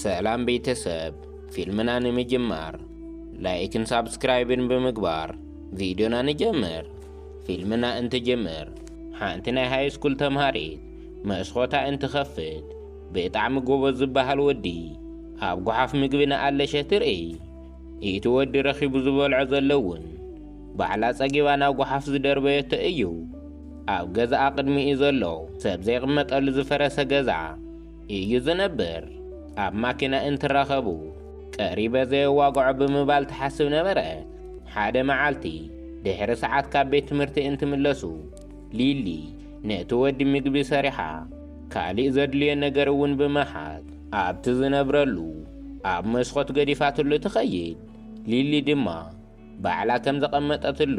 ሰላም ቤተሰብ ፊልምና ንምጅማር ላይክን ሳብስክራይብን ብምግባር ቪድዮና ንጀምር ፊልምና እንትጅምር ሓንቲ ናይ ሃይስኩል ተምሃሪት መስኾታ እንትኸፍት ብጣዕሚ ጎበዝ ዝበሃል ወዲ ኣብ ጓሓፍ ምግቢ ንኣለሸ ትርእይ እቲ ወዲ ረኺቡ ዝበልዖ ዘሎ እውን ባዕላ ጸጊባ ናብ ጓሓፍ ዝደርበየቶ እዩ ኣብ ገዛኣ ቅድሚኡ ዘሎ ሰብ ዘይቕመጠሉ ዝፈረሰ ገዛ እዩ ዝነብር። ኣብ ማኪና እንትራኸቡ ቀሪበ ዘየዋግዖ ብምባል ትሓስብ ነበረት። ሓደ መዓልቲ ድሕሪ ሰዓት ካብ ቤት ትምህርቲ እንትምለሱ ሊሊ ነቲ ወዲ ምግቢ ሰሪሓ ካሊእ ዘድልዮ ነገር እውን ብምሓዝ ኣብቲ ዝነብረሉ ኣብ መስኮት ገዲፋትሉ ትኸይድ። ሊሊ ድማ ባዕላ ከም ዘቐመጠትሉ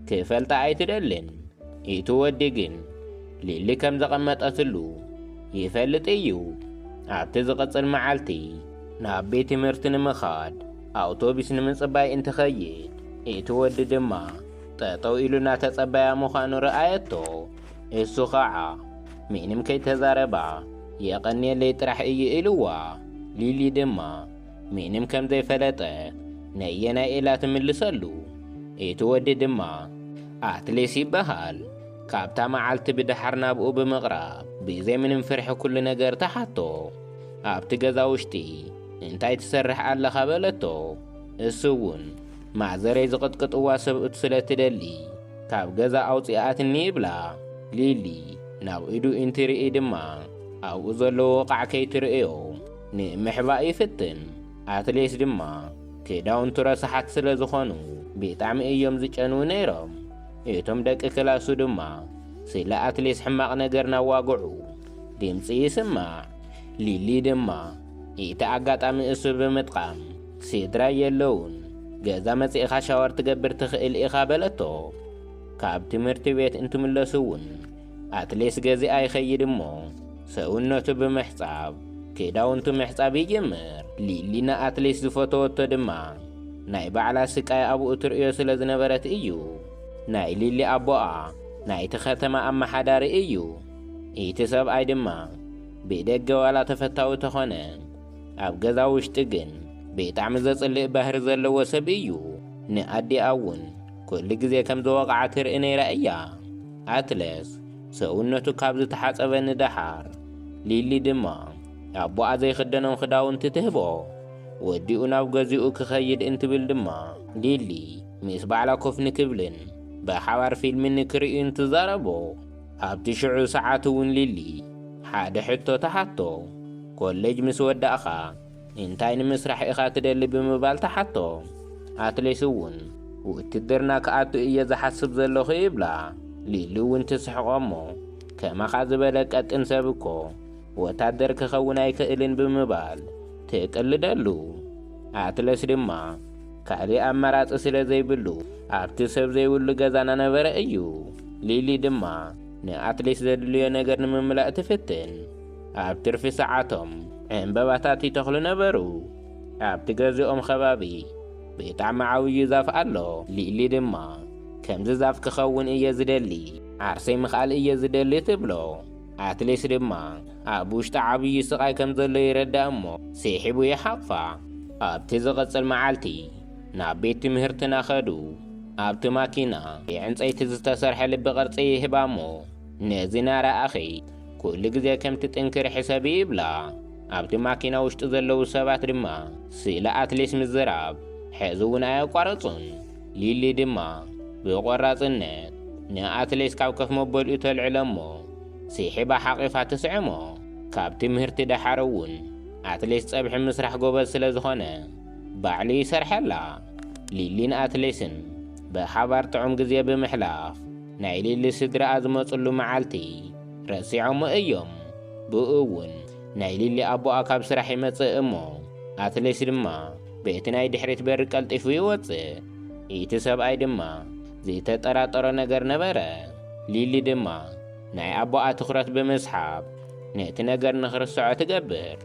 ክፈልጣ ኣይትደልን። ኢቱ ወዲ ግን ሊሊ ከም ዘቐመጠትሉ ይፈልጥ ኢዩ። ኣብቲ ዝቕጽል መዓልቲ ናብ ቤት ትምህርቲ ንምኻድ ኣውቶቢስ ንምጽባይ እንትኸይድ ኢቱ ወዲ ድማ ጠጠው ኢሉ እናተጸበያ ምዃኑ ረኣየቶ። እሱ ኸዓ ምንም ከይተዛረባ የቐንየለይ ጥራሕ ኢዩ ኢሉዋ። ሊሊ ድማ ምንም ከም ዘይፈለጠ ነየናይ ኢላ ትምልሰሉ። እቲ ወዲ ድማ ኣትሌስ ይበሃል። ካብታ መዓልቲ ብደሓር ናብኡ ብምቕራብ ብዘይ ምንም ፍርሒ ኩሉ ነገር ተሓቶ። ኣብቲ ገዛ ውሽጢ እንታይ ትሰርሕ ኣለኻ በለቶ። እሱ ውን ማዘረይ ዝቕጥቅጥዋ ሰብኡት ስለ ትደሊ ካብ ገዛ ኣውጺኣትኒ ይብላ። ሊሊ ናብ ኢዱ ኢንትርኢ ድማ ኣብኡ ዘሎ ወቓዕ ከይትርእዮ። ንምሕባእ ይፍትን ኣትሌት ድማ ክዳውንቱ ረሳሓት ስለ ዝኾኑ ብጣዕሚ እዮም ዝጨንዉ ነይሮም እቶም ደቂ ክላሱ ድማ ስለ ኣትሌት ሕማቕ ነገር ናዋግዑ ድምጺ ይስማዕ ሊሊ ድማ እቲ ኣጋጣሚ እሱ ብምጥቓም ስድራይ የለዉን ገዛ መጺእኻ ሻወር ትገብር ትኽእል ኢኻ በለቶ ካብ ትምህርቲ ቤት እንትምለሱ እውን ኣትሌስ ገዚኣ ይኸይድ እሞ ሰውነቱ ብምሕጻብ ክዳውንቱ ምሕጻብ ይጅምር። ሊሊ ንኣትሌስ ዝፈተወቶ ድማ ናይ ባዕላ ስቃይ ኣብኡ ትርእዮ ስለ ዝነበረት እዩ። ናይ ሊሊ ኣቦኣ ናይቲ ከተማ ኣመሓዳሪ እዩ። ኢቲ ሰብኣይ ድማ ብደገ ዋላ ተፈታዊ ተኾነ ኣብ ገዛ ውሽጢ ግን ብጣዕሚ ዘጽልእ ባህሪ ዘለዎ ሰብ እዩ። ንኣዲኣ እውን ኩሉ ግዜ ከም ዝወቕዓ ትርኢ ነይራ እያ። ኣትለስ ሰውነቱ ካብ ዝተሓጸበ ንደሓር፣ ሊሊ ድማ ኣቦኣ ዘይኽደኖም ክዳውንቲ ትህቦ። ወዲኡ ናብ ገዝኡ ክኸይድ እንትብል ድማ ሊሊ ምስ ባዕላ ኮፍ ንክብልን ብሓባር ፊልሚ ንክርእዩን ትዛረቦ። ኣብቲ ሽዑ ሰዓት እውን ሊሊ ሓደ ሕቶ ትሓቶ፣ ኮለጅ ምስ ወዳእካ እንታይ ንምስራሕ ኢኻ ትደሊ ብምባል ተሓቶ። ኣትሌስ እውን ውትድርና ክኣቱ እየ ዝሓስብ ዘለኹ ይብላ። ሊሊ እውን ትስሕቆ እሞ ከማኻ ዝበለ ቀጢን ሰብ እኮ ወታደር ክኸውን ኣይክእልን ብምባል ትቅልደሉ። ኣትለስ ድማ ካልእ ኣማራጺ ስለ ዘይብሉ ኣብቲ ሰብ ዘይብሉ ገዛ ናነበረ እዩ። ሊሊ ድማ ንኣትሌስ ዘድልዮ ነገር ንምምላእ ትፍትን። ኣብ ትርፊ ሰዓቶም ዕምበባታት ይተኽሉ ነበሩ። ኣብቲ ገዝኦም ኸባቢ ብጣዕሚ ዓብዩ ዛፍ ኣሎ። ሊሊ ድማ ከምዚ ዛፍ ክኸውን እየ ዝደሊ፣ ዓርሰይ ምኽኣል እየ ዝደሊ ትብሎ። ኣትሌስ ድማ ኣብ ውሽጣ ዓብዩ ስቓይ ከም ዘሎ ይረዳእ እሞ ስሒቡ ይሓቕፋ። ኣብቲ ዝቕጽል መዓልቲ ናብ ቤት ትምህርትና ከዱ። ኣብቲ ማኪና ብዕንጸይቲ ዝተሰርሐ ልቢ ቅርጺ ይህባ እሞ ነዚ ናረኣኺ ኩሉ ግዜ ከም ትጥንክሪ ሕሰቢ ይብላ። ኣብቲ ማኪና ውሽጢ ዘለዉ ሰባት ድማ ስለ ኣትሌስ ምዝራብ ሕዚ እውን ኣየቋረጹን። ሊሊ ድማ ብቖራጽነት ንኣትሌስ ካብ ከፍ መበሊኡ ተልዕሎ እሞ ሲሒባ ሓቒፋ ትስዕሞ። ካብ ትምህርቲ ደሓር እውን ኣትሌስ ጸብሒ ምስራሕ ጎበዝ ስለ ዝኾነ ባዕሉ ይሰርሐላ። ሊሊን ኣትሌስን ብሓባር ጥዑም ግዜ ብምሕላፍ ናይ ሊሊ ስድራኣ ዝመጽሉ መዓልቲ ረሲዖሞ እዮም። ብእኡ እውን ናይ ሊሊ ኣቦኣ ካብ ስራሕ ይመጽእ እሞ ኣትሌስ ድማ በቲ ናይ ድሕሪት በሪ ቀልጢፉ ይወጽእ። እቲ ሰብኣይ ድማ ዝተጠራጠሮ ነገር ነበረ። ሊሊ ድማ ናይ ኣቦኣ ትኹረት ብምስሓብ ነቲ ነገር ንኽርስዖ ትገብር።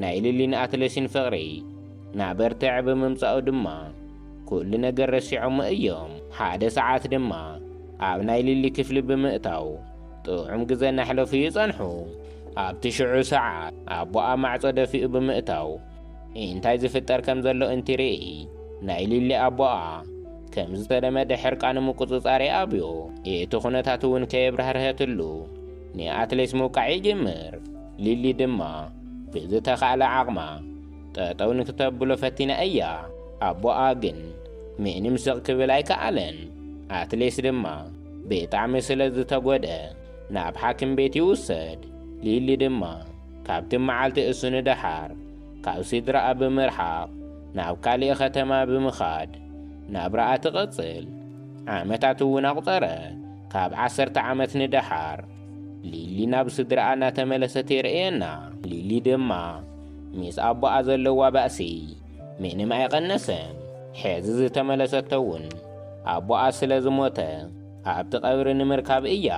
ናይ ሊሊን ኣትሌስን ፍቕሪ ናበርትዐ ብምምጻኡ ድማ፣ ኩሉ ነገር ረሲዖሞ እዮም። ሓደ ሰዓት ድማ ኣብ ናይ ሊሊ ክፍሊ ብምእታው ጥዑም ግዘ እናሕለፉ ይፀንሑ። ኣብቲ ሽዑ ሰዓት ኣቦኣ ማዕፆ ደፊኡ ብምእታው እንታይ ዝፍጠር ከም ዘሎ እንትርኢ ናይ ሊሊ ኣቦኣ ከም ዝተለመደ ሕርቃኑ ምቁፅፃር ይኣብዮ። እቲ ኩነታት እውን ከየብራህርሀትሉ ንኣትሌስ ምውቃዕ ይጅምር። ሊሊ ድማ ብዝተኻእለ ዓቕማ ጠጠው ንክተብሎ ፈቲና እያ ኣቦኣ ግን ምንም ስቅ ክብል ኣይከኣለን ኣትሌስ ድማ ብጣዕሚ ስለ ዝተጎድኣ ናብ ሓኪም ቤት ይውሰድ ሊሊ ድማ ካብቲ መዓልቲ እሱ ንደሓር ካብ ስድራኣ ብምርሓቅ ናብ ካሊእ ከተማ ብምኻድ ናብራኣ ትቅጽል ዓመታት እውን ኣቁጸረ ካብ ዓሰርተ ዓመት ንደሓር ሊሊ ናብ ስድራኣ እናተመለሰት የርእየና ሊሊ ድማ ምስ ኣቦኣ ዘለዋ ባእሲ ምንም ኣይቐነሰን። ሕዚ ዝተመለሰቶ እውን ኣቦኣ ስለ ዝሞተ ኣብቲ ቀብሪ ንምርካብ እያ።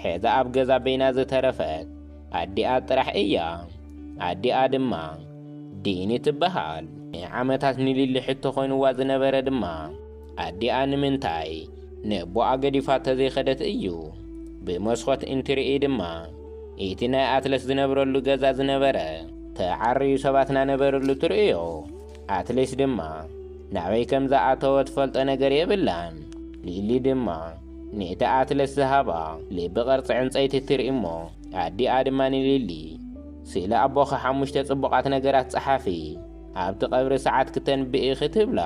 ሕዚ ኣብ ገዛ በይና ዝተረፈት ኣዲኣ ጥራሕ እያ። ኣዲኣ ድማ ዲኒ ትበሃል። ንዓመታት ንሊሊ ሕቶ ኮይኑዋ ዝነበረ ድማ፣ ኣዲኣ ንምንታይ ነቦኣ ገዲፋ ተዘይኸደት እዩ። ብመስኾት እንትርኢ ድማ እቲ ናይ ኣትለስ ዝነብረሉ ገዛ ዝነበረ ተዓርዩ ሰባት ናነበርሉ ትርእዮ። ኣትሌስ ድማ ናበይ ከም ዝኣተወ ትፈልጦ ነገር የብላን። ሊሊ ድማ ነቲ ኣትለስ ዝሃባ ልቢ ቅርጺ ዕንጸይቲ ትርኢ እሞ ኣዲኣ ድማ ንሊሊ ስለ ኣቦኺ ሓሙሽተ ጽቡቓት ነገራት ጸሓፊ ኣብቲ ቀብሪ ሰዓት ክተንብኢ ክትብላ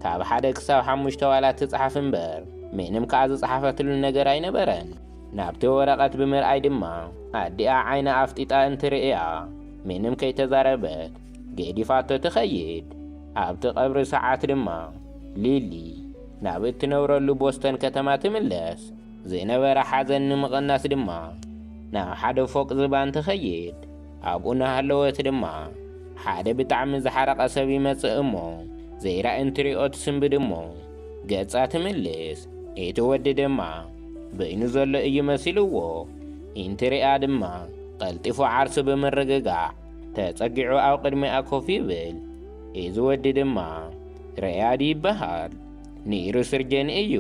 ካብ ሓደ ክሳብ ሓሙሽተ ዋላ ትጽሓፍ እምበር ምንም ከኣ ዝጸሓፈትሉ ነገር ኣይነበረን። ናብቲ ወረቐት ብምርኣይ ድማ ኣዲኣ ዓይና ኣፍጢጣ እንትርእያ ምንም ከይተዛረበት ገዲፋቶ ትኸይድ። ኣብቲ ቀብሪ ሰዓት ድማ ሊሊ ናብ እትነብረሉ ቦስተን ከተማ ትምለስ። ዝነበረ ሓዘን ንምቕናስ ድማ ናብ ሓደ ፎቅ ዝባን ትኸይድ። ኣብኡ እናሃለወት ድማ ሓደ ብጣዕሚ ዝሓረቐ ሰብ ይመጽእ እሞ ዘይራኢ እንትሪኦ ትስንብድ እሞ ገጻ ትምልስ። እቲ ወዲ ድማ በይኑ ዘሎ እዩ መሲልዎ እንትሪኣ ድማ ቐልጢፉ ዓርሱ ብምርግጋዕ ተጸጊዑ ኣብ ቕድሚኣ ኮፍ ይብል። እዚ ወዲ ድማ ረያድ ይበሃል። ንይሩ ስርጀን እዩ።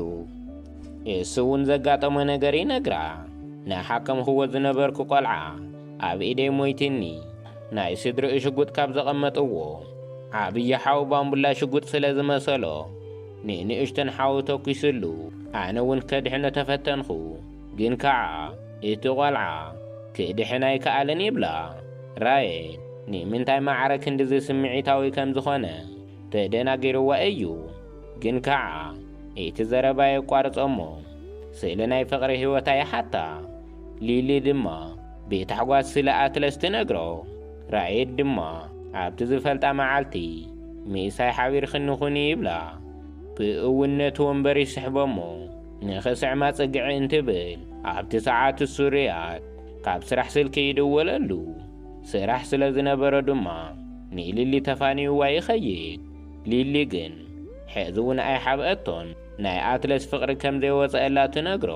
እሱ እውን ዘጋጠሞ ነገር ይነግራ። ንሓከምክዎ ዝነበርኩ ቖልዓ ኣብ ኢደይ ሞይቲኒ ናይ ስድርኡ ሽጉጥ ካብ ዘቐመጥዎ ዓብዪ ሓው ባምቡላ ሽጉጥ ስለ ዝመሰሎ ንንእሽቶን ሓው ተኲስሉ። ኣነ እውን ከድሕኖ ተፈተንኹ፣ ግን ከዓ እቲ ቖልዓ ክድሕን ኣይከኣለን ይብላ ራየል። ንምንታይ ማዕረ ክንድዚ ስምዒታዊ ከም ዝኾነ ተደናጊርዋ እዩ። ግን ከዓ እቲ ዘረባ የቋርጾ እሞ ስለ ናይ ፍቕሪ ህይወታ ይሓታ። ሊሊ ድማ ብታሕጓስ ስለ ኣትለስ ትነግሮ። ራኤድ ድማ ኣብቲ ዝፈልጣ መዓልቲ ምሳይ ሓቢርክኒ ኩኒ ይብላ። ብእውን ነቲ ወንበር ይስሕቦ'ሞ ንክስዕማ ጽግዒ እንትብል ኣብቲ ሰዓት እሱ ሪያድ ካብ ስራሕ ስልኪ ይድወለሉ። ስራሕ ስለ ዝነበሮ ድማ ንሊሊ ተፋንዩዋ ይኸይድ። ሊሊ ግን ሕዚ'ውን ኣይሓብኣቶን ናይ ኣትለስ ፍቕሪ ከም ዘይወጸኣላ ትነግሮ።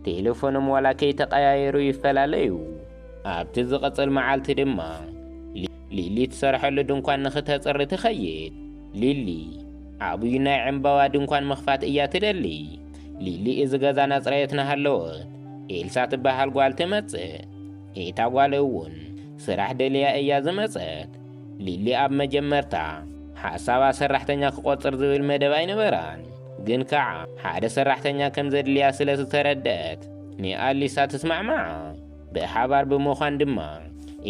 ቴለፎኖም ዋላ ከይተቐያየሩ ይፈላለዩ። ኣብቲ ዝቕጽል መዓልቲ ድማ ሊሊ እትሰርሐሉ ድንኳን ንኽተጽሪ ትኸይድ። ሊሊ ዓብዩ ናይ ዕምባባ ድንኳን ምኽፋት እያ ትደሊ። ሊሊ እዚ ገዛ እናጽረየት እናሃለወት ኤልሳ ትበሃል ጓል ትመጽእ። እታ ጓል እውን ስራሕ ደልያ እያ ዝመጸት። ሊሊ ኣብ መጀመርታ ሓሳባ ሰራሕተኛ ክቆጽር ዝብል መደብ ኣይነበራን፣ ግን ከኣ ሓደ ሰራሕተኛ ከም ዘድልያ ስለ ዝተረደኣት ንኣሊሳ ትስማዕማዓ። ብሓባር ብምዃን ድማ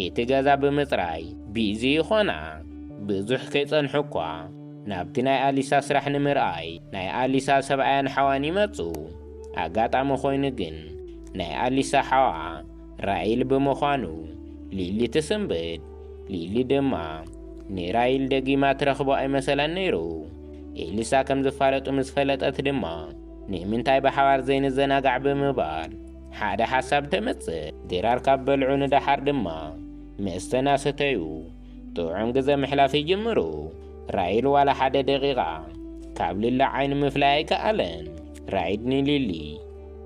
እቲ ገዛ ብምጽራይ ቢዚ ይኾና። ብዙሕ ከይጸንሑ እኳ ናብቲ ናይ ኣሊሳ ስራሕ ንምርኣይ ናይ ኣሊሳ ሰብኣያን ሓዋን ይመጹ። ኣጋጣሚ ኮይኑ ግን ናይ ኣሊሳ ሓውኣ ራይል ብምዃኑ ሊሊ ትስንብድ። ሊሊ ድማ ንራይል ደጊማ ትረኽቦ ኣይመሰላን ነይሩ። ኤልሳ ከም ዝፋለጡ ምስ ፈለጠት ድማ ንምንታይ ብሓባር ዘይንዘናጋዕ ብምባል ሓደ ሓሳብ ተምጽእ። ድራር ካብ በልዑ ንደሓር ድማ መስተ እናሰተዩ ጥዑም ግዘ ምሕላፍ ይጅምሩ። ራይል ዋላ ሓደ ደቂቓ ካብ ሊሊ ዓይኒ ምፍላይ ኣይከኣለን። ራይድ ንሊሊ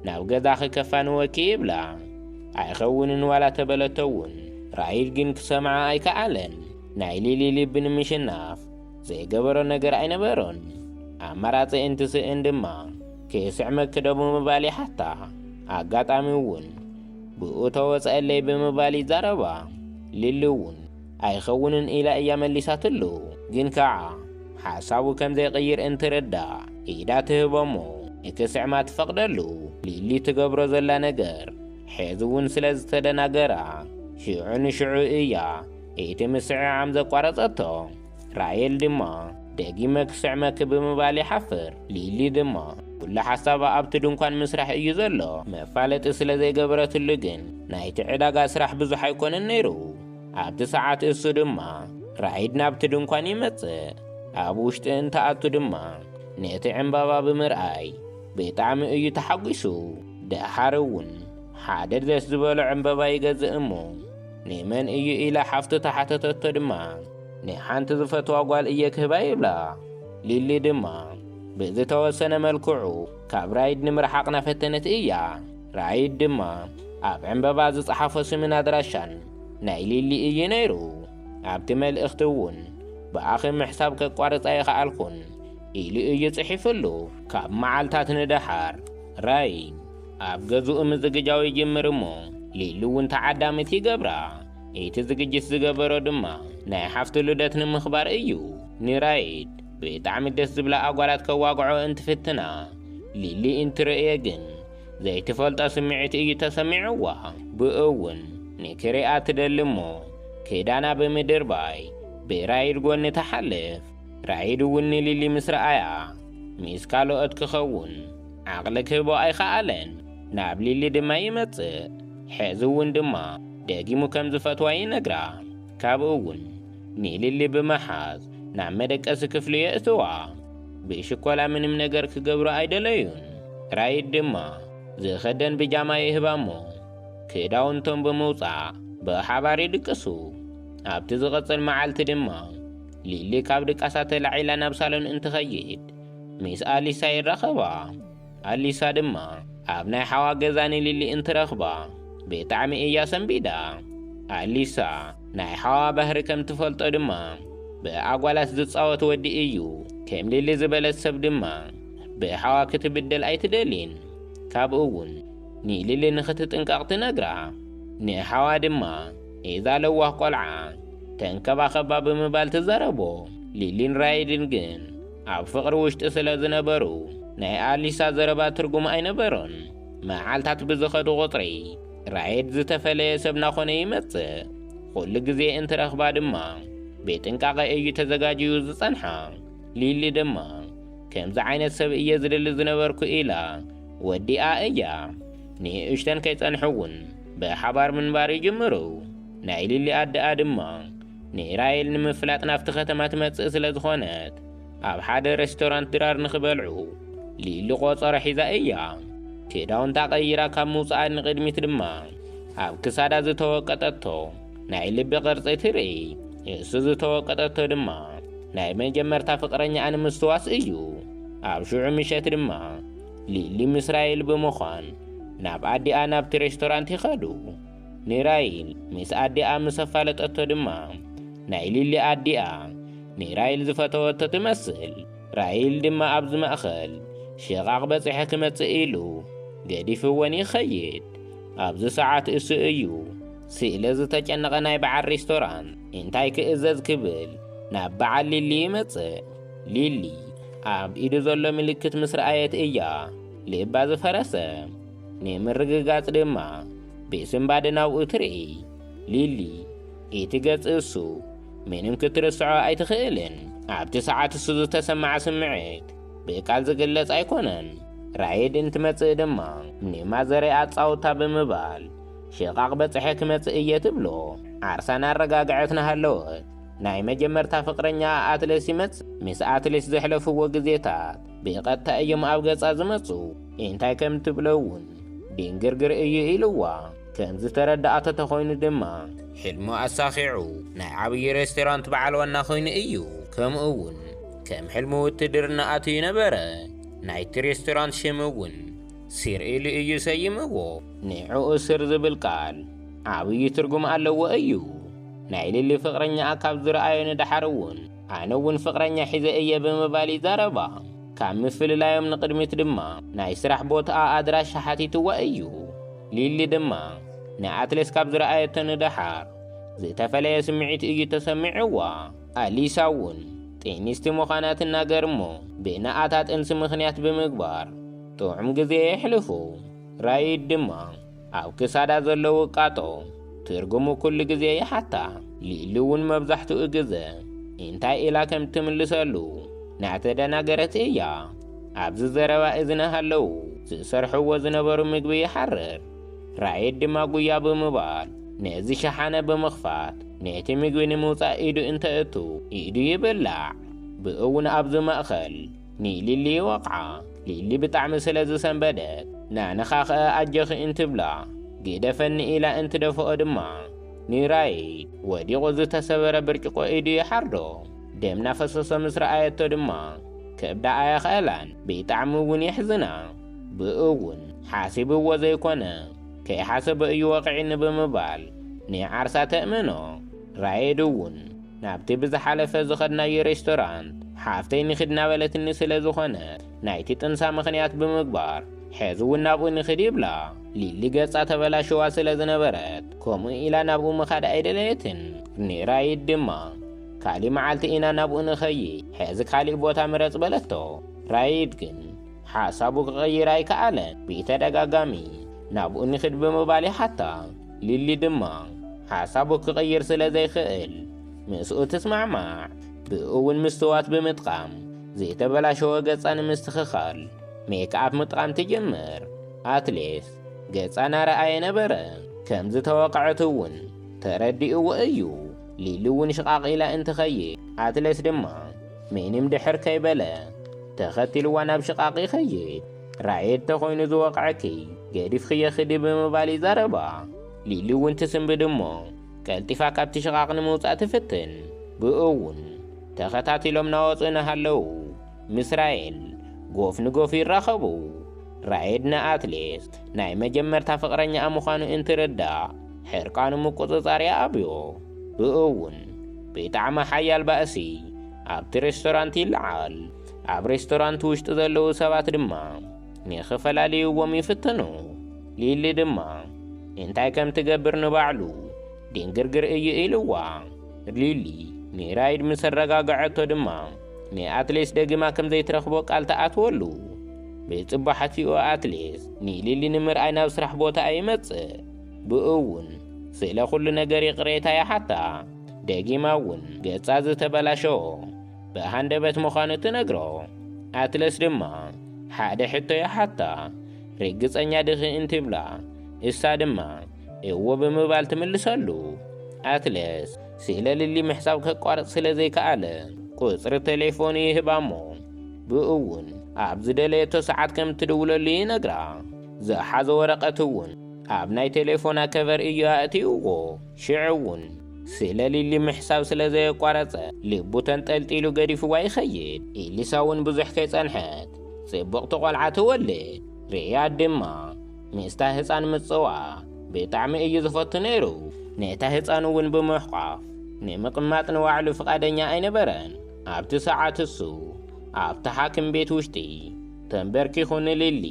ናብ ገዛኺ ከፋንወኪ ይብላ። ኣይኸውንን ዋላ ተበለቶ እውን ራሂል ግን ክሰምዓ ኣይከኣለን። ናይ ሊሊ ልቢ ንምሽናፍ ዘይገበሮ ነገር ኣይነበሮን። ኣማራጺ እንትስእን ድማ ክስዕመ ክዶ ብምባል ይሓታ። ኣጋጣሚ እውን ብኡ ተወጸኣለይ ብምባል ይዛረባ። ሊሊ እውን ኣይኸውንን ኢላ እያ መሊሳትሉ። ግን ከኣ ሓሳቡ ከም ዘይቅይር እንትርዳእ ኢዳ ትህቦ'ሞ ንክስዕማ ትፈቕደሉ። ሊሊ ትገብሮ ዘላ ነገር ሐዚ'ውን ስለ ዝተደናገራ ሽዑ ንሽዑ እያ እቲ ምስዕዓም ዘቋረጸቶ። ራሄል ድማ ደጊመ ክስዕመኪ ብምባል ይሓፍር። ሊሊ ድማ ኩሉ ሓሳባ ኣብቲ ድንኳን ምስራሕ እዩ ዘሎ። መፋለጢ ስለ ዘይገበረትሉ ግን ናይቲ ዕዳጋ ስራሕ ብዙሕ ኣይኮነን ነይሩ። ኣብቲ ሰዓት እሱ ድማ ራይድ ናብቲ ድንኳን ይመጽእ። ኣብ ውሽጢ እንትኣቱ ድማ ነቲ ዕምባባ ብምርኣይ ብጣዕሚ እዩ ተሓጒሱ። ደሓር እውን ሓደ ደስ ዝበሎ ዕምበባ ይገዝእ እሞ ንመን እዩ ኢላ ሓፍቱ ተሓተተቶ ድማ ንሓንቲ ዝፈትዋ ጓል እየ ክህባ ይብላ። ሊሊ ድማ ብዝተወሰነ መልክዑ ካብ ራይድ ንምርሓቕ ናፈተነት እያ። ራይድ ድማ ኣብ ዕምበባ ዝጸሓፎ ስምን ኣድራሻን ናይ ሊሊ እዩ ነይሩ። ኣብቲ መልእኽቲ እውን ብኣኺ ምሕሳብ ከቋርጽ ኣይኸኣልኩን ኢሉ እዩ ጽሒፍሉ። ካብ መዓልታት ንደሓር ራይድ ኣብ ገዝኡ ምዝግጃው ይጅምር እሞ ሊሊ እውን ተዓዳሚት ይገብራ። እቲ ዝግጅት ዝገበሮ ድማ ናይ ሓፍቱ ልደት ንምኽባር እዩ። ንራይድ ብጣዕሚ ደስ ዝብላ ኣጓላት ከዋግዖ እንትፍትና ሊሊ እንትርእዮ ግን ዘይትፈልጦ ስምዒት እዩ ተሰሚዕዋ። ብእውን ንክሪኣ ትደሊ እሞ ክዳና ብምድርባይ ብራይድ ጎኒ ትሓልፍ። ራይድ እውን ንሊሊ ምስ ረኣያ ምስ ካልኦት ክኸውን ዓቕሊ ክህቦ ኣይኸኣለን። ናብ ሊሊ ድማ ይመጽእ። ሕዚ እውን ድማ ደጊሙ ከም ዝፈትዋ ይነግራ። ካብኡ እውን ንሊሊ ብምሓዝ ናብ መደቀሲ ክፍሉ የእትዋ። ብሽኮላ ምንም ነገር ክገብሩ ኣይደለዩን። ራይድ ድማ ዝኸደን ብጃማ ይህባ እሞ ክዳውንቶም ብምውጻእ ብሓባር ይድቅሱ። ኣብቲ ዝቕጽል መዓልቲ ድማ ሊሊ ካብ ድቃሳ ተላዒላ ናብ ሳሎን እንትኸይድ ሚስ ኣሊሳ ይራኸባ። ኣሊሳ ድማ ኣብ ናይ ሓዋ ገዛ ንሊሊ እንትረኽባ ብጣዕሚ እያ ሰንቢዳ። ኣሊሳ ናይ ሓዋ ባህሪ ከም ትፈልጦ ድማ ብኣጓላት ዝጻወት ወዲ እዩ። ከም ሊሊ ዝበለት ሰብ ድማ ብሓዋ ክትብደል ኣይትደሊን። ካብኡ ውን ንሊሊ ንኽትጥንቀቕ ትነግራ። ንሓዋ ድማ እዛ ለዋህ ቆልዓ ተንከባኸባ ብምባል ትዛረቦ። ሊሊን ራይድን ግን ኣብ ፍቕሪ ውሽጢ ስለ ዝነበሩ ናይ ኣሊሳ ዘረባ ትርጉም ኣይነበሮን። መዓልታት ብዝኸዱ ቁጽሪ ራየድ ዝተፈለየ ሰብ ናኾነ ይመጽእ። ኹሉ ግዜ እንትረኽባ ድማ ብጥንቃቐ እዩ ተዘጋጅዩ ዝጸንሓ። ሊሊ ድማ ከምዚ ዓይነት ሰብ እየ ዝደሊ ዝነበርኩ ኢላ ወዲኣ እያ። ንእሽተን ከይጸንሑ'ውን ብሓባር ምንባር ይጅምሩ። ናይ ሊሊ ኣደኣ ድማ ንኢራይል ንምፍላጥ ናብቲ ከተማ ትመጽእ ስለ ዝኾነት፣ ኣብ ሓደ ረስቶራንት ድራር ንኽበልዑ ሊሊ ቆጸሮ ሒዛ እያ። ክዳውንታ ቀይራ ካብ ምውጽኣ ንቕድሚት ድማ ኣብ ክሳዳ ዝተወቀጠቶ ናይ ልቢ ቅርጺ ትርኢ። ንሱ ዝተወቀጠቶ ድማ ናይ መጀመርታ ፍቕረኛኣ ንምስትዋስ እዩ። ኣብ ሽዑ ምሸት ድማ ሊሊ ምስ ራይል ብምዃን ናብ ኣዲኣ ናብቲ ረስቶራንት ይኸዱ። ንራይል ምስ ኣዲኣ ምስ ኣፋለጠቶ ድማ ናይ ሊሊ ኣዲኣ ንራይል ዝፈተወቶ ትመስል። ራይል ድማ ኣብዚ ማእኸል ሽቓቕ በፂሐ ክመፅእ ኢሉ ገዲፍወን ይኸይድ። ኣብዚ ሰዓት እሱ እዩ ስለ ዝተጨነቐ ናይ በዓል ሬስቶራንት እንታይ ክእዘዝ ክብል ናብ በዓል ሊሊ ይመፅእ። ሊሊ ኣብ ኢዱ ዘሎ ምልክት ምስ ረኣየት እያ ልባ ዝፈረሰ። ንምርግጋጽ ድማ ብስምባደ ናብኡ ትርኢ። ሊሊ እቲ ገጽ እሱ ምንም ክትርስዖ ኣይትኽእልን። ኣብቲ ሰዓት እሱ ዝተሰማዓ ስምዒት ብቃል ዝግለጽ ኣይኮነን። ራይድ እንትመጽእ ድማ ንማዘረ ኣጻውታ ብምባል ሽቓቕ በጽሐ ክመጽእ እየ ትብሎ። ዓርሳ እናረጋግዐት እናሃለወት ናይ መጀመርታ ፍቕረኛኣ ኣትለስ ይመጽእ። ምስ ኣትለስ ዘሕለፍዎ ግዜታት ብቐጥታ እዮም ኣብ ገጻ ዝመጹ። እንታይ ከም ትብሎ እውን ዲንግርግር እዩ ኢልዋ። ከም ዝተረድኣቶ ተኾይኑ ድማ ሕልሙ ኣሳኺዑ ናይ ዓብዪ ሬስቶራንት በዓል ዋና ኮይኑ እዩ። ከምኡ እውን ከም ሕልሙ ውትድርና ኣትዩ ነበረ። ናይቲ ሬስቶራንት ሽም እውን ሲር ኢሉ እዩ ሰይምዎ። ንዕኡ ስር ዝብል ቃል ዓብዪ ትርጉም ኣለዎ እዩ። ናይ ሊሊ ፍቕረኛኣ ካብ ዝረኣዮ ንደሓር እውን ኣነ እውን ፍቕረኛ ሒዘ እየ ብምባል ይዛረባ። ካብ ምፍልላዮም ንቕድሚት ድማ ናይ ስራሕ ቦትኣ ኣድራሻ ሓቲትዋ እዩ። ሊሊ ድማ ንኣትሌስ ካብ ዝረኣየቶ ንደሓር ዝተፈለየ ስምዒት እዩ ተሰሚዕዋ። ኣሊሳ እውን ጤኒስቲ ምዃና ትናገር እሞ ብእንኣታ ጥንሲ ምኽንያት ብምግባር ጥዑም ግዜ የሕልፉ። ራይድ ድማ ኣብ ክሳዳ ዘሎ ውቃጦ ትርጉሙ ኩሉ ግዜ ይሓታ። ሊሊ እውን መብዛሕትኡ ግዘ እንታይ ኢላ ከም እትምልሰሉ እናተደናገረት እያ ኣብዚ ዘረባ እዚ እናሃለዉ ዝሰርሕዎ ዝነበሩ ምግቢ ይሓርር። ራይድ ድማ ጉያ ብምባል ነዚ ሸሓነ ብምኽፋት ነቲ ምግቢ ንምውፃእ ኢዱ እንተእቱ ኢዱ ይብላዕ። ብእውን ኣብዚ ማእኸል ንሊሊ ይወቕዓ። ሊሊ ብጣዕሚ ስለ ዝሰንበደት ናንኻ ከእ ኣጆኺ እንትብላ ግደፈኒ ኢላ እንትደፍኦ ድማ ንራይድ ወዲቑ ዝተሰበረ ብርጭቆ ኢዱ ይሓርዶ። ደም ናፈሰሶ ምስ ረኣየቶ ድማ ከብዳ ኣየኸእላን ብጣዕሚ እውን የሕዝና። ብእኡ እውን ሓሲብዎ ዘይኮነ ከይሓሰቦ እዩ ወቒዒኒ ብምባል ንዓርሳ ተእምኖ። ራይድ እውን። ናብቲ ብዝሓለፈ ዝኸድናዮ ሬስቶራንት ሓፍተይ ንኺድ እናበለትኒ ስለ ዝኾነት ናይቲ ጥንሳ ምኽንያት ብምግባር ሕዚ እውን ናብኡ ንኺድ ይብላ። ሊሊ ገጻ ተበላሽዋ ስለ ዝነበረት ከምኡ ኢላ ናብኡ ምኻድ ኣይደለየትን ንራይድ ድማ ካሊእ መዓልቲ ኢና ናብኡ ንኸይድ ሕዚ ካሊእ ቦታ ምረጽ በለቶ። ራይድ ግን ሓሳቡ ክቕይር ኣይከኣለን ብተደጋጋሚ ናብኡ ንኺድ ብምባል ይሓታ። ሊሊ ድማ ሓሳቡ ክቕይር ስለ ዘይክእል ምስኡ ትስማዕማዕ። ብእኡ እውን ምስትዋት ብምጥቓም ዘይተበላሸወ ገጻ ንምስትኽኻል ሜክኣፕ ምጥቓም ትጅምር። ኣትሌስ ገጻ እናረኣየ ነበረ። ከም ዝተወቕዐት እውን ተረዲእዎ እዩ። ሊሊ እውን ሽቓቕ ኢላ እንትኸይድ ኣትሌስ ድማ ምንም ድሕር ከይበለ ተኸቲልዋ ናብ ሽቓቕ ይኸይድ። ራየት ተኾይኑ ዝወቕዐኪ ገዲፍኽዮ ኽዲ ብምባል ይዛረባ። ሊሊ እውን ትስንብድ እሞ ቀልጢፋ ካብቲ ሽቓቕ ንምውጻእ ትፍትን። ብእኡውን ተኸታቲሎም ናወጹ እናሃለዉ ምስ ራየል ጎፍ ንጎፍ ይራኸቡ። ራየድ ንኣትሌት ናይ መጀመርታ ፍቕረኛኣ ምዃኑ እንትርዳእ ሕርቃኑ ምቁጽጻር ይኣብዮ። ብእኡውን ብጣዕሚ ሓያል ባእሲ ኣብቲ ሬስቶራንት ይለዓል። ኣብ ሬስቶራንት ውሽጢ ዘለዉ ሰባት ድማ ንኽፈላልይዎም ይፍትኑ። ሊሊ ድማ እንታይ ከም ትገብር ንባዕሉ ድንግርግር እዩ ኢልዋ። ሊሊ ንራይድ ምስ ኣረጋግዐቶ ድማ ንኣትሌስ ደጊማ ከም ዘይትረኽቦ ቃል ትኣትወሉ። ብጽባሓቲኡ ኣትሌስ ንሊሊ ንምርኣይ ናብ ስራሕ ቦታኣ ይመጽእ። ብኡ እውን ስለ ዅሉ ነገር ይቕሬታ ይሓታ። ደጊማ እውን ገጻ ዝተበላሸወ ብሃንደበት ምዃኑ ትነግሮ። ኣትለስ ድማ ሓደ ሕቶ ይሓታ፣ ርግጸኛ ድኺ እንትብላ፣ እሳ ድማ እወ ብምባል ትምልሰሉ። ኣትለስ ስለ ሊሊ ምሕሳብ ከቋርጽ ስለ ዘይከኣለ ቁጽሪ ተሌፎኑ ይህባ'ሞ ብእውን ኣብ ዝደለየቶ ሰዓት ከም ትድውለሉ ይነግራ። ዝሓዞ ወረቐት'ውን ኣብ ናይ ተሌፎና ከቨር እዩ ኣእትይዎ። ሽዑ እውን ስለ ሊሊ ምሕሳብ ስለ ዘየቋረጸ ልቡ ተንጠልጢሉ ገዲፍዋ ይኸይድ። ኤሊሳ እውን ብዙሕ ከይጸንሐት ጽብቕቲ ቈልዓ ትወልድ። ሪያድ ድማ ምስታ ህጻን ምጽዋዕ ብጣዕሚ እዩ ዝፈቱ ነይሩ። ነታ ህጻን እውን ብምሕቋፍ ንምቕማጥ ንባዕሉ ፍቓደኛ ኣይነበረን። ኣብቲ ሰዓት እሱ ኣብቲ ሓክም ቤት ውሽጢ ተንበርኪኹ ንሊሊ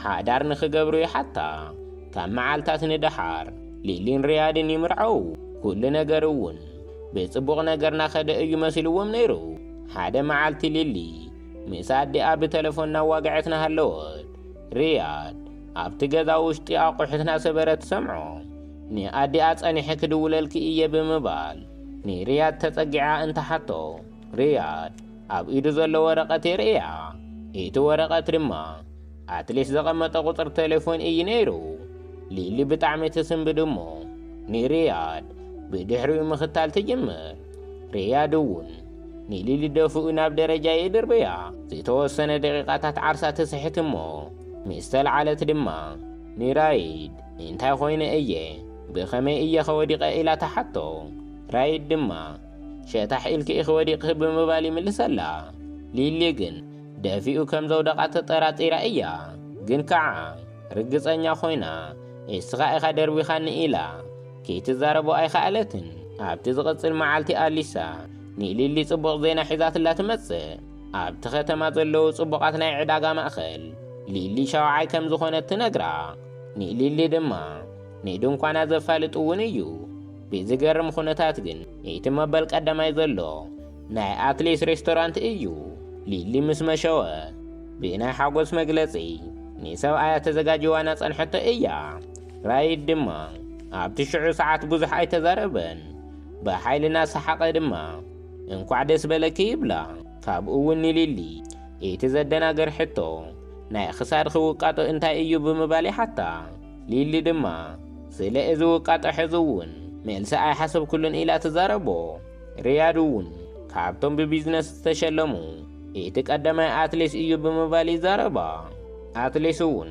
ሓዳር ንኽገብሩ ይሓታ። ካብ መዓልታት ንደሓር ሊሊን ሪያድን ይምርዓዉ። ኩሉ ነገር እውን ብጽቡቕ ነገር ናኸደ እዩ መሲልዎም ነይሩ። ሓደ መዓልቲ ሊሊ ምስ ኣዲኣ ብተለፎን ናዋግዐት ናሃለወት ሪያድ ኣብቲ ገዛ ውሽጢ ኣቑሑት ናሰበረ ትሰምዖ። ንኣዲኣ ጸኒሐ ክድውለልኪ እየ ብምባል ንሪያድ ተጸጊዓ እንትሓቶ፣ ሪያድ ኣብ ኢዱ ዘሎ ወረቐት የርእያ። እቲ ወረቐት ድማ ኣትሌት ዘቐመጠ ቁጽሪ ቴሌፎን እዩ ነይሩ። ሊሊ ብጣዕሚ ትስንብድ እሞ ንሪያድ ብድሕሪኡ ምኽታል ትጅምር። ሪያድ እውን ንሊሊ ደፍኡ ናብ ደረጃ ይድርብያ። ዝተወሰነ ደቂቓታት ዓርሳ ትስሕት እሞ ምስ ተልዓለት ድማ ንራይድ እንታይ ኾይነ እየ ብኸመይ እየኸ ወዲቐ ኢላ ትሓቶ። ራይድ ድማ ሸታሕ ኢልኪ ኢኺ ወዲቕኺ ብምባል ይምልሰላ። ሊሊ ግን ደፊኡ ከም ዘውደቓ ተጠራጢራ እያ። ግን ከኣ ርግጸኛ ኾይና እስኻ ኢኻ ደርቢኻኒ ኢላ ከይትዛረቦ ኣይኸኣለትን። ኣብቲ ዝቕጽል መዓልቲ ኣሊሳ ንሊሊ ጽቡቕ ዜና ሒዛትላ ትመጽእ። ኣብቲ ከተማ ዘለዉ ጽቡቓት ናይ ዕዳጋ ማእከል ሊሊ ሻውዓይ ከም ዝኾነት ትነግራ። ንሊሊ ድማ ንድንኳና ዘፋልጥ እውን እዩ። ብዝገርም ኹነታት ግን እቲ መበል ቀዳማይ ዘሎ ናይ ኣትሌስ ሬስቶራንት እዩ። ሊሊ ምስ መሸወ ብናይ ሓጎስ መግለጺ ንሰብኣያ ተዘጋጅዋ ናጸንሐቶ እያ። ራይድ ድማ ኣብቲ ሽዑ ሰዓት ብዙሕ ኣይተዛረበን። ብሓይሊ እናሰሓቐ ድማ እንኳዕ ደስ በለኪ ይብላ። ካብኡ እውን ንሊሊ እቲ ዘደናግር ሕቶ ናይ ኽሳድኺ ውቃጦ እንታይ እዩ ብምባል ይሓታ። ሊሊ ድማ ስለ እዚ ውቃጦ ሕዚ እውን መልሲ ኣይሓሰብኩሉን ኢላ ትዛረቦ። ሪያድ እውን ካብቶም ብቢዝነስ ዝተሸለሙ እቲ ቀዳማይ ኣትሌት እዩ ብምባል ይዛረባ። ኣትሌት እውን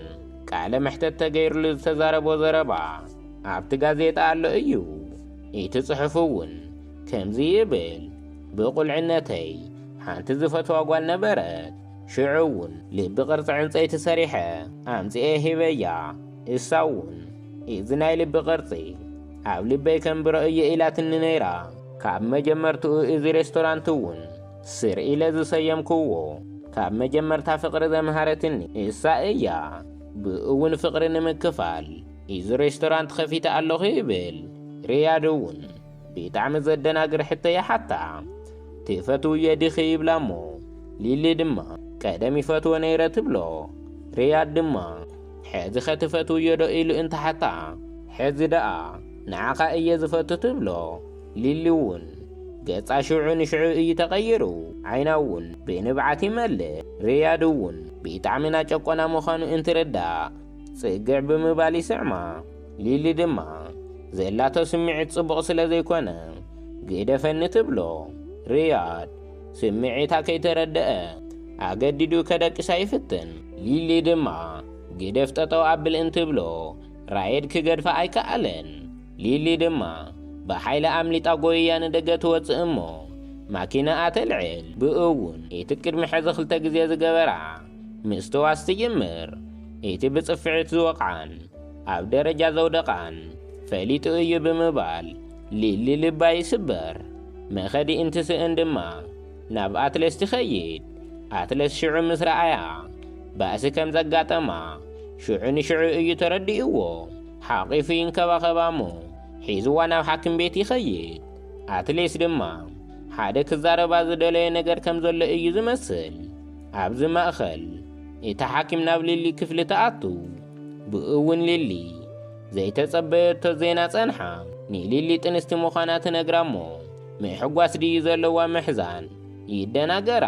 ቃለ መሕተት ተገይርሉ ዝተዛረቦ ዘረባ ኣብቲ ጋዜጣ ኣሎ እዩ። እቲ ጽሑፍ እውን ከምዚ ይብል ብቑልዕነተይ ሓንቲ ዝፈትዋ ጓል ነበረት። ሽዑ እውን ልቢ ቅርጺ ዕንጸይቲ ሰሪሐ ኣምጺኤ ሂበያ። እሳ እውን እዚ ናይ ልቢ ቅርጺ ኣብ ልበይ ከንብሮ እየ ኢላትኒ ነይራ። ካብ መጀመርትኡ እዚ ሬስቶራንት እውን ስር ኢለ ዝሰየምክዎ ካብ መጀመርታ ፍቕሪ ዘምሃረትኒ እሳ እያ። ብእኡ እውን ፍቕሪ ንምክፋል እዚ ሬስቶራንት ከፊተ ኣለኹ ይብል። ሪያድ እውን ቢጣዕሚ ዘደናግር ሕቶ ይሓታ ትፈትውዮ ዲኺ ይብላ እሞ ሊሊ ድማ ቀደም ይፈትዎ ነይረ ትብሎ ሪያድ ድማ ሕዚ ከ ትፈትውዮ ዶ ኢሉ እንትሓታ ሕዚ ደኣ ንዓኻ እየ ዝፈቱ ትብሎ ሊሊ እውን ገጻ ሽዑ ንሽዑ እዩ ተቐይሩ ዓይና እውን ብንብዓት ይመልእ ሪያድ እውን ቢጣዕሚ ናጨቆና ምዃኑ እንትርዳእ ጽግዕ ብምባል ይስዕማ ሊሊ ድማ ዘላቶ ስምዒት ጽቡቕ ስለ ዘይኮነ ግደፈኒ ትብሎ። ሪያድ ስምዒታ ከይተረደኣ ኣገዲዱ ከደቅሳ ይፍትን። ሊሊ ድማ ግደፍ ጠጠው ኣብል እንትብሎ ራየድ ክገድፋ ኣይከኣለን። ሊሊ ድማ ብሓይሊ ኣምሊጣ ጎይያ ንደገ ትወጽእ እሞ ማኪናኣ ተልዕል። ብእውን እቲ ቅድሚ ሕዚ ክልተ ግዜ ዝገበራ ምስትዋስ ትጅምር። እቲ ብጽፍዒት ዝወቕዓን ኣብ ደረጃ ዘውደቓን ፈሊጡ እዩ ብምባል ሊሊ ልባ ይስበር። መኸዲ እንትስእን ድማ ናብ ኣትለስ ትኸይድ። ኣትለስ ሽዑ ምስ ረኣያ ባእሲ ከም ዘጋጠማ ሽዑ ንሽዑ እዩ ተረዲእዎ። ሓቒፉ ይንከባኸባ እሞ ሒዝዋ ናብ ሓኪም ቤት ይኸይድ። ኣትሌስ ድማ ሓደ ክዛረባ ዝደለዮ ነገር ከም ዘሎ እዩ ዝመስል። ኣብዚ ማእኸል እታ ሓኪም ናብ ሊሊ ክፍሊ ትኣቱ። ብእውን ሊሊ ዘይተጸበየቶ ዜና ጸንሓ ንሊሊ ጥንስቲ ምዃና ትነግራ እሞ ምሕጓስ ድዩ ዘለዋ ምሕዛን ይደናገራ።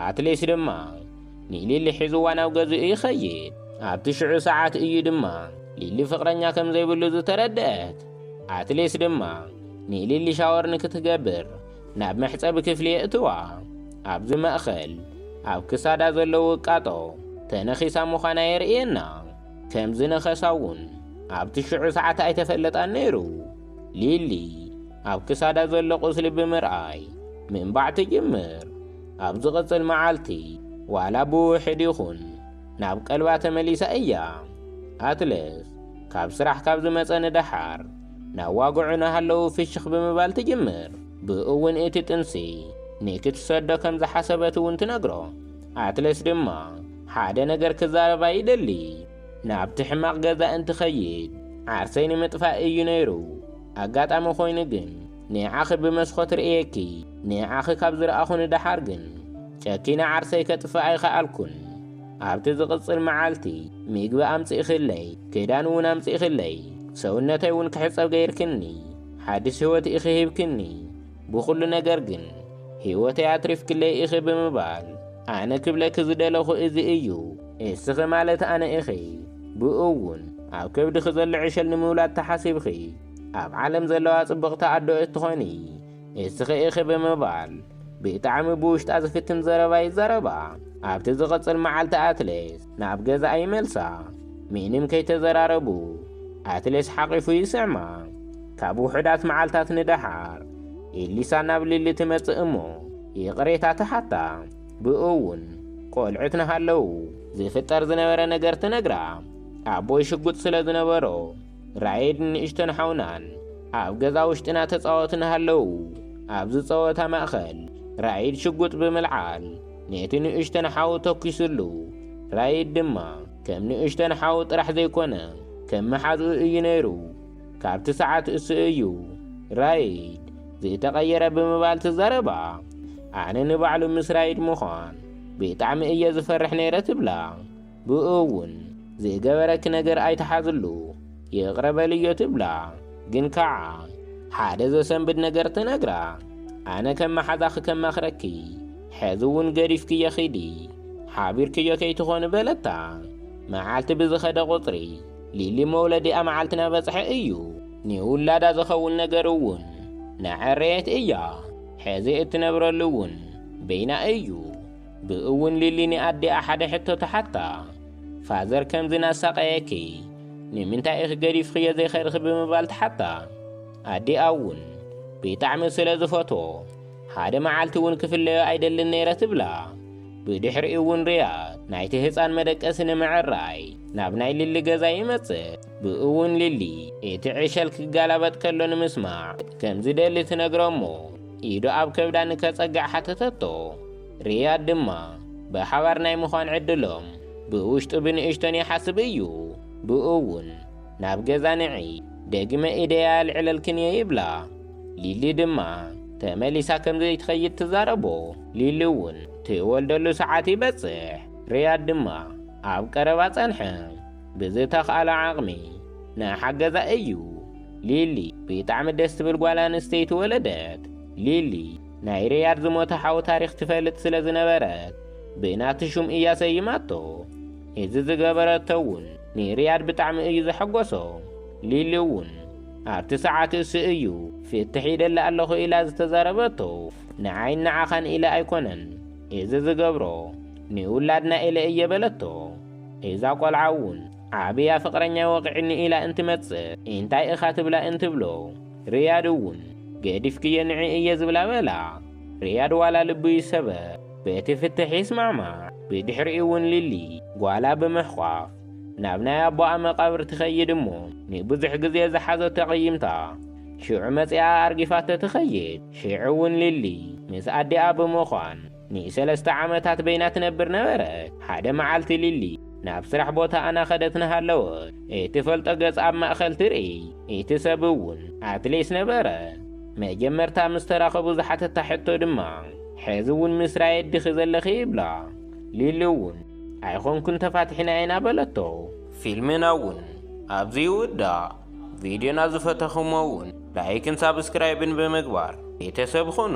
ኣትሌስ ድማ ንሊሊ ሒዝዋ ናብ ገዝኡ ይኸይድ። ኣብቲ ሽዑ ሰዓት እዩ ድማ ሊሊ ፍቕረኛ ከም ዘይብሉ ዝተረድአት። ኣትሌስ ድማ ንሊሊ ሻወር ንክትገብር ናብ መሕጸቢ ክፍሊ የእትዋ። ኣብዚ ማእከል ኣብ ክሳዳ ዘሎ ውቃጦ ተነኺሳ ምዃና የርእየና። ከም ዝነኸሳ'ውን ኣብቲ ሽዑ ሰዓት ኣይተፈለጣን ነይሩ። ሊሊ ኣብ ክሳዳ ዘሎ ቁስሊ ብምርኣይ ምንባዕ ትጅምር። ኣብ ዝቕጽል መዓልቲ ዋላ ብውሕድ ይኹን ናብ ቀልባ ተመሊሳ እያ። ኣትለስ ካብ ስራሕ ካብ ዝመጸ ንደሓር ናዋግዑ ናሃለዉ ፍሽኽ ብምባል ትጅምር። ብእኡውን እቲ ጥንሲ ንክትሰዶ ከም ዝሓሰበት እውን ትነግሮ። ኣትለስ ድማ ሓደ ነገር ክዛረባ ይደሊ። ናብቲ ሕማቕ ገዛ እንትኸይድ ዓርሰይ ንምጥፋእ እዩ ነይሩ። ኣጋጣሚ ኮይኑ ግን ንዓኺ ብመስኾት ርእየኪ። ንዓኺ ካብ ዝረኣኹ ንደሓር ግን ጨኪነ ዓርሰይ ከጥፍእ ኣይኸኣልኩን። ኣብቲ ዝቕጽል መዓልቲ ምግቢ ኣምጺእክለይ፣ ክዳን እውን ኣምጺእክለይ፣ ሰውነተይ እውን ክሕጸብ ገይርክኒ፣ ሓድሽ ህይወት ኢኺ ሂብክኒ፣ ብዅሉ ነገር ግን ህይወተይ ኣትሪፍክለይ ኢኺ ብምባል ኣነ ክብለኪ ዝደለኹ እዚ እዩ። እስኺ ማለት ኣነ ኢኺ። ብእኡ እውን ኣብ ከብድኺ ዘሎ ዕሸል ንምውላድ ተሓሲብኺ ኣብ ዓለም ዘለዋ ጽብቕቲ ኣዶ እትዀኒ። ንስኺ ኢኺ ብምባል ብጣዕሚ ብውሽጣ ዝፍትን ዘረባ ይዛረባ። ኣብቲ ዝቕጽል መዓልቲ ኣትሌስ ናብ ገዛኣ ይመልሳ። ምንም ከይተዘራረቡ ኣትሌስ ሓቒፉ ይስዕማ። ካብ ውሑዳት መዓልታት ንደሓር ኤሊሳ ናብ ሊሊ ትመጽእ እሞ ይቕሬታ ትሓታ። ብእውን ቆልዑት ንሃለው ዝፍጠር ዝነበረ ነገር ትነግራ። ኣቦይ ሽጉጥ ስለ ዝነበሮ ራይድ ንእሽቶን ሓውናን ኣብ ገዛ ውሽጢ እናተጻወቱ እናሃለዉ ኣብዚ ጸወታ ማእከል ራይድ ሽጉጥ ብምልዓል ነቲ ንእሽቶን ሓው ተኲሱሉ። ራይድ ድማ ከም ንእሽቶን ሓው ጥራሕ ዘይኮነ ከም መሓዝኡ እዩ ነይሩ። ካብቲ ሰዓት እሱ እዩ ራይድ ዝተቐየረ ብምባል ትዛረባ። ኣነ ንባዕሉ ምስ ራይድ ምዃን ብጣዕሚ እየ ዝፈርሕ ነይረ ትብላ። ብእኡ እውን ዝገበረኪ ነገር ኣይትሓዝሉ፣ ይቕረ በልዮ ትብላ። ግን ከዓ ሓደ ዘሰንብድ ነገር ትነግራ። ኣነ ከም መሓዛ ክከማኽረኪ፣ ሕዚ እውን ገዲፍክዮ ኪዲ፣ ሓቢርክዮ ከይትኾኒ በለታ። መዓልቲ ብዝኸደ ቁፅሪ ሊሊ መውለዲኣ መዓልቲ ናበፅሐ እዩ። ንውላዳ ዝኸውን ነገር እውን ናዐረየት እያ። ሕዚ እትነብረሉ እውን በይና እዩ። ብእውን ሊሊ ንኣዲኣ ሓደ ሕቶ ትሓታ፣ ፋዘር ከምዚ እናሳቐየኪ ንምንታይ ኢኺ ገዲፍኽዮ ዘይከድኺ ብምባል ትሓታ። ኣዲኣ እውን ብጣዕሚ ስለ ዝፈትዎ ሓደ መዓልቲ እውን ክፍለዮ ኣይደልን ነይረ ትብላ። ብድሕሪኡ እውን ሪያድ ናይቲ ህፃን መደቀሲ ንምዕራይ ናብ ናይ ሊሊ ገዛ ይመፅእ። ብእውን ሊሊ እቲ ዕሸል ክገላበጥ ከሎ ንምስማዕ ከም ዝደሊ ትነግሮ እሞ ኢዱ ኣብ ከብዳ ንከጸግዕ ሓተተቶ። ሪያድ ድማ ብሓባር ናይ ምዃን ዕድሎም ብውሽጡ ብንእሽቶን ይሓስብ እዩ። ብእኡውን ናብ ገዛ ንዒ ደግመ ኢደይ ኣልዕለልክን እየ ይብላ። ሊሊ ድማ ተመሊሳ ከም ዘይትኸይድ ትዛረቦ። ሊሊውን ትወልደሉ ሰዓት ይበጽሕ። ሪያድ ድማ ኣብ ቀረባ ጸንሐ። ብዝተኽኣሎ ዓቕሚ ናሓገዛ እዩ። ሊሊ ቢጣዕሚ ደስ ትብል ጓል ኣንስተይቲ ወለደት። ሊሊ ናይ ሪያድ ዝሞተ ሓው ታሪኽ ትፈልጥ ስለ ዝነበረት ብናቲ ሹም እያ ሰይማቶ። እዚ ዝገበረቶ እውን ንሪያድ ብጣዕሚ እዩ ዘሐጎሶ። ሊሊ እውን ኣብቲ ሰዓት እሱ እዩ ፍትሕ ኢደሊ ኣለኹ ኢላ ዝተዛረበቶ። ንዓይን ንዓኻን ኢለ ኣይኮነን እዚ ዝገብሮ ንውላድና ኢለ እየ በለቶ። እዛ ቆልዓ ውን ዓብያ ፍቅረኛይ ወቂዕኒ ኢላ እንትመጽእ ኢንታይ እኻ ትብላ እንትብሎ ርያድ ውን ገዲፍክዮ ንዒ እየ ዝብላ በላ ርያድ ዋላ ልቡ ይሰበር በቲ ፍትሕ ይስማዕማዕ ብድሕሪኡ ውን ሊሊ ጓላ ብምሕቋፍ ናብ ናይ ኣቦኣ መቃብር ትኸይድ እሞ ንብዙሕ ግዜ ዝሓዘቶ ኣቂይምታ ሽዑ መጺኣ ኣርጊፋቶ ትኸይድ ሽዑ ውን ሊሊ ምስ ኣዲኣ ብምዃን ንሰለስተ ዓመታት በይና ትነብር ነበረት። ሓደ መዓልቲ ሊሊ ናብ ስራሕ ቦታኣ እናኸደት እናሃለወት እትፈልጦ ገጽ ኣብ ማእከል ትርኢ። እቲ ሰብ እውን ኣትሌስ ነበረ። መጀመርታ ምስ ተራኸቡ ዝሓተታ ሕቶ ድማ ሕዚ እውን ምስ ራየት ዲኺ ዘለኺ ይብላ። ሊሊ እውን ኣይኮንኩን ተፋቲሕና ኢና በለቶ። ፊልምና እውን ኣብዚ ይውዳእ። ቪድዮና ዝፈተኹሞ እውን ላይክን ሳብስክራይብን ብምግባር ቤተሰብ ኹኑ።